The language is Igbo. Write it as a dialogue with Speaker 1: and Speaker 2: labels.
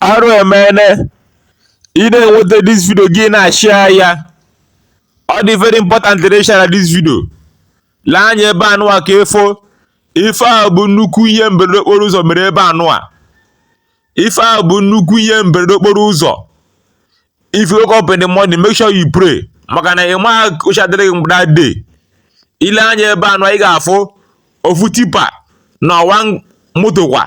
Speaker 1: arụ emene ị na-enweta this video gị na-ashare ya ọ dị very important to share this video lee anya ebe anụwa ka ị fụ ife a bụ nnukwu ihe mberede okporo ụzọ mere ebe anụwa ife a bụ nnukwu ihe mberede okporo ụzọ if you wake up in the morning make sure you pray maka na ị ma ụcha dịrị gị mgbe that day i lee anya ebe anụwa ị ga-afụ ofu tipa na ọwa moto kwa